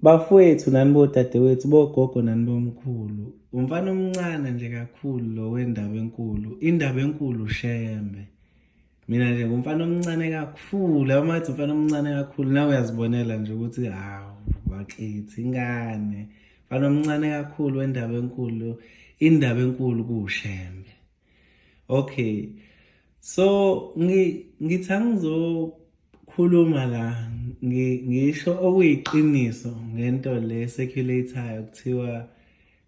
Bafowethu nani bodadewethu bogogo nani bomkhulu. Umfana omncane nje kakhulu lo wendaba enkulu. Indaba enkulu shembe. Mina nje ngumfana omncane kakhulu, amathi umfana omncane kakhulu nawe uyazibonela nje ukuthi hawu bakithi ingane. Mfana omncane kakhulu wendaba enkulu. Indaba enkulu kushembe. okay so ngi ngithi angizokhuluma la ngisho okuyiqiniso ngento le circulator kuthiwa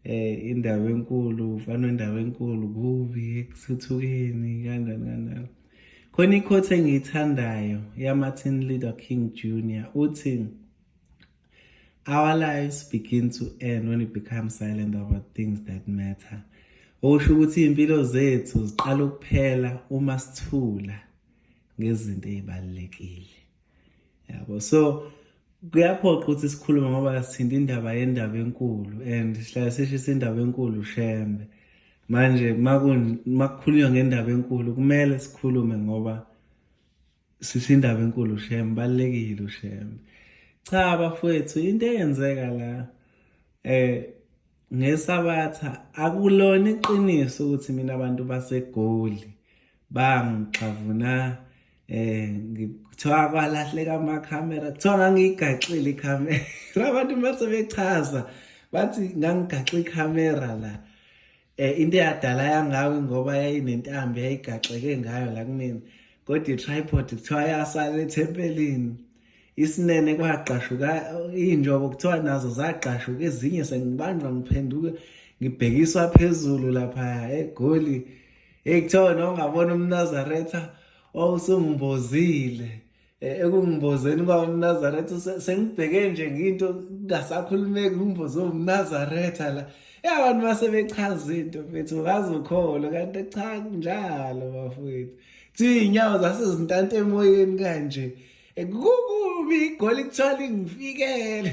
eh indawo enkulu ufana indawo enkulu kubi ekuthuthukeni kanjani kanjani khona ikhothe engiyithandayo yamatin leader king junior uthi Our lives begin to end when we become silent about things that matter. Okusho ukuthi iy'mpilo zethu ziqala ukuphela uma sithula ngezinto ey'balulekile. Yabo so kuyaphoqa ukuthi sikhulume ngoba sithinta indaba yendaba enkulu and sihlale sishisa indaba enkulu shembe. Manje makukhulunywa ngendaba enkulu kumele sikhulume ngoba Sisi indaba enkulu shem balekile ushem. Cha bafwethu into eyenzeka la eh ngesabatha akulona iqiniso ukuthi mina abantu basegoli bangixavuna eh ngithiwa kwalahleka ama camera kuthiwa ngangiyigaxile i camera abantu mase bechaza bathi ngangigaxe i camera la Eh into eyadala yangawe ngoba yayinentambo yayigaxeke ngayo la kumina. Kodwa itripod kuthiwa yasala ethempelini. Isinene kwagqashuka injobo kuthiwa nazo zagqashuka ezinye sengibanjwa ngiphenduke ngibhekiswa phezulu lapha eGoli. Hey kuthiwa nongabona umNazaretha wawusungimbozile. Eh, ekungibozeni uba umnazaretha sengibheke nje ngiyinto kungasakhulumeki kumboze umnazaretha la ya abantu base bechaza into mfethu ngazokholwa kanti cha njalo bafowethu thi iy'nyawo zasezintanta emoyeni kanje eh, kukubi igoli kuthiwa lingifikele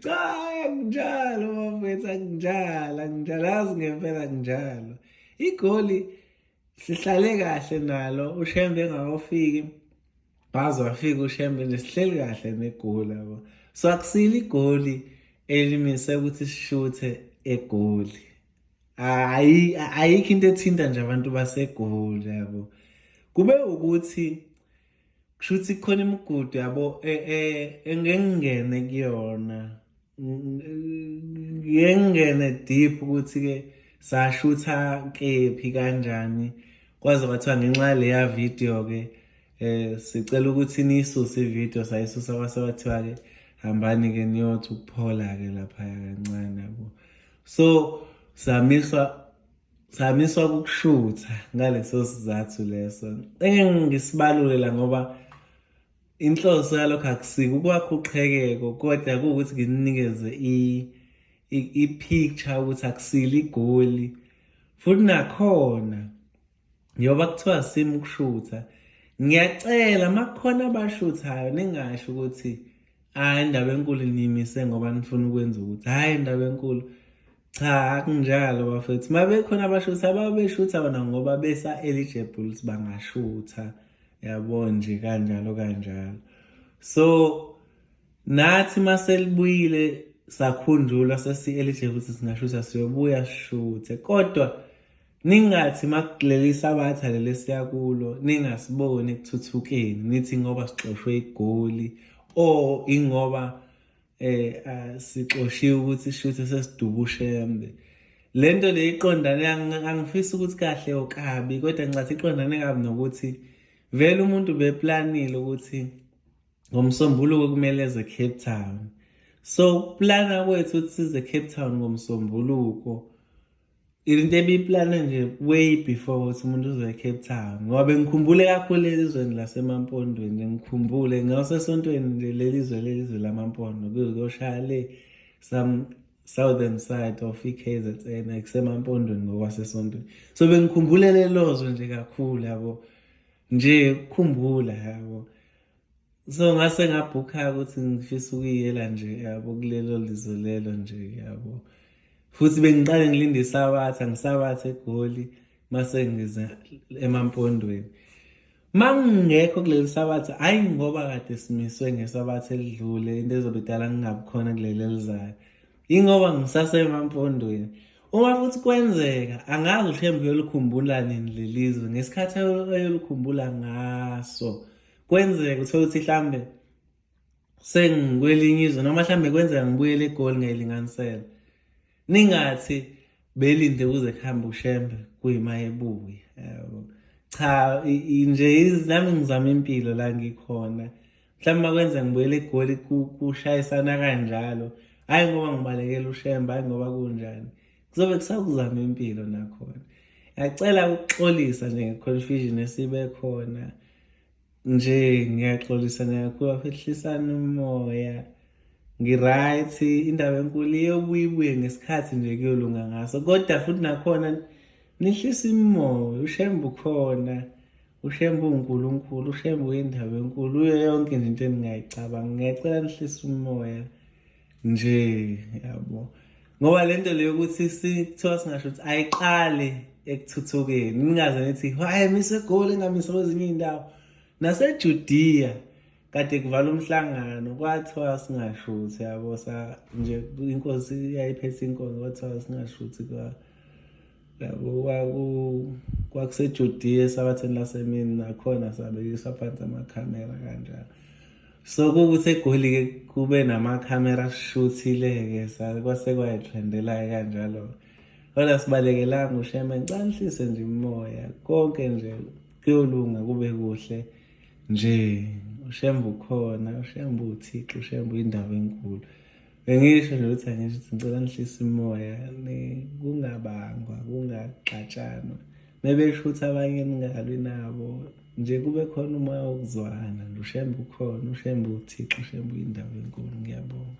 cha anginjalo bafowethu anginjalo anginjalo azi ngempela kunjalo igoli sihlale kahle nalo ushembe engakafiki waze wafika ushembe nje sihleli kahle negoli yabo so akusile igoli elimise ukuthi sishuthe egoli hayi ayikho into ethinta nje abantu basegoli yabo kube ukuthi kusho ukuthi khona imigudu yabo e, e, engengene kuyona ngengene deep ukuthi-ke sashutha kephi kanjani kwaze kwathiwa ngenxa yaleya video-ke um sicela ukuthi niyisuse ividiyo sayisusa kwase kwathiwa-ke hambani-ke niyothi ukuphola-ke laphaya kancane yabo so samiswa Samiswa ukushutha ngaleso sizathu leso. Engeke ngisibalule la ngoba inhloso yalokho akusike ukwakha uqhekeko kodwa kuwukuthi nginikeze i-picture ukuthi akusile igoli futhi nakhona njengoba kuthiwa simu ukushutha ngiyacela uma kukhona abashuthayo ningasho ukuthi hhayi indaba enkulu niyimise ngoba nifuna ukwenza ukuthi hhayi indaba enkulu cha akunjalo bafethu uma bekhona abashutha ababeshutha bona ngoba besa-eligible ukuthi bangashutha yabo nje kanjalo kanjalo so nathi uma selibuyile sakhunjulwa sesi-eligible ukuthi singashutha siyobuya sishuthe kodwa Ningathi makuleli sabatha leli siyakulo ningasiboni ekuthuthukeni nithi ngoba sixoshwe igoli or ingoba eh sixoshiwe ukuthi shuthi sesidubushembe lento le iqondane angifisi ukuthi kahle okabi kodwa ngicathi iqondane kabi nokuthi vele umuntu beplanile ukuthi ngomsombuluko kumele eze Cape Town so plana kwethu ukuthi size Cape Town ngomsombuluko into ebiyiplane nje way before ukuthi umuntu uzoya ecape town ngoba bengikhumbule kakhulu elizweni lasemampondweni nje ngikhumbule ngasesontweni nje leli zwe leli zwe lamampondo kuzoshaya le some southern side of i-kz n kusemampondweni ngokwasesontweni so bengikhumbule lelozwe nje kakhulu yabo nje kukhumbula yabo so ngase ngabhukha ukuthi ngifisa ukuyela nje yabo kulelo lizwe lelo nje yabo futhi bengiqale ngilinde isabatha ngisabathe egoli mase ngize emampondweni mangingekho kuleli sabatha hayi ngoba kade simiswe ngesabatha elidlule into ezobe idala ngingabi khona kuleli elizayo yingoba ngisasemampondweni uma futhi kwenzeka angazi ushembe uyolukhumbula nini lelizwe ngesikhathi ayolukhumbula ngaso kwenzeka uthole ukuthi mhlambe sengikwelinye izwe noma mhlambe kwenzeka ngibuyele egoli ngelinganisela ningathi belinde kuze kuhambe ushembe kuyima ebuye yabo cha nje nami ngizama impilo la ngikhona mhlawumbe makwenza ngibuyele egoli kushayisana kanjalo hhayi ngoba ngibalekela ushembe hhayi ngoba kunjani kuzobe kusakuzama impilo nakhona ngiyacela ukuxolisa nje nge-confusion esibe khona nje ngiyaxolisa nakakhulu afehlisana umoya ngi-right indaba enkulu iyobuye ibuye ngesikhathi nje kuyolunga ngaso kodwa futhi nakhona nihlisa imimoya ushembe ukhona ushembe uwunkulunkulu ushembe uyindaba enkulu uyo yonke nje into eningayicabanga ngiyacela nihlisa umoya nje yabo ngoba le nto leyo ukuthi kuthiwa singasho ukuthi ayiqali ekuthuthukeni ningaze nithi hayi mise egoli engamise kwezinye iy'ndawo nasejudiya kade kuvala umhlangano kwathiwa singashuthi yabo sa nje inkosi yayiphethe inkonzo kwathiwa singashuthi kwa kwakusejudiya esabatheni lasemini nakhona sabekiswa phansi amakhamera kanjalo so kukuthi egoli-ke kube namakhamera ashuthile-ke kwase kwayithrendela-ke kanjalo kodwa sibalekelanga usheme ncanhlise nje umoya konke nje kuyolunga kube kuhle nje ushembe ukhona ushembe uthixo ushembe uyindawo enkulu Bengisho nje ukuthi angisho ukuthi ngicela nihlise umoya kungabangwa kungaxatshanwa mebesho ukuthi abanye ningalwi nabo nje kube khona umoya wokuzwana nje ushembe ukhona ushembe uthixo ushembe uyindawo enkulu ngiyabonga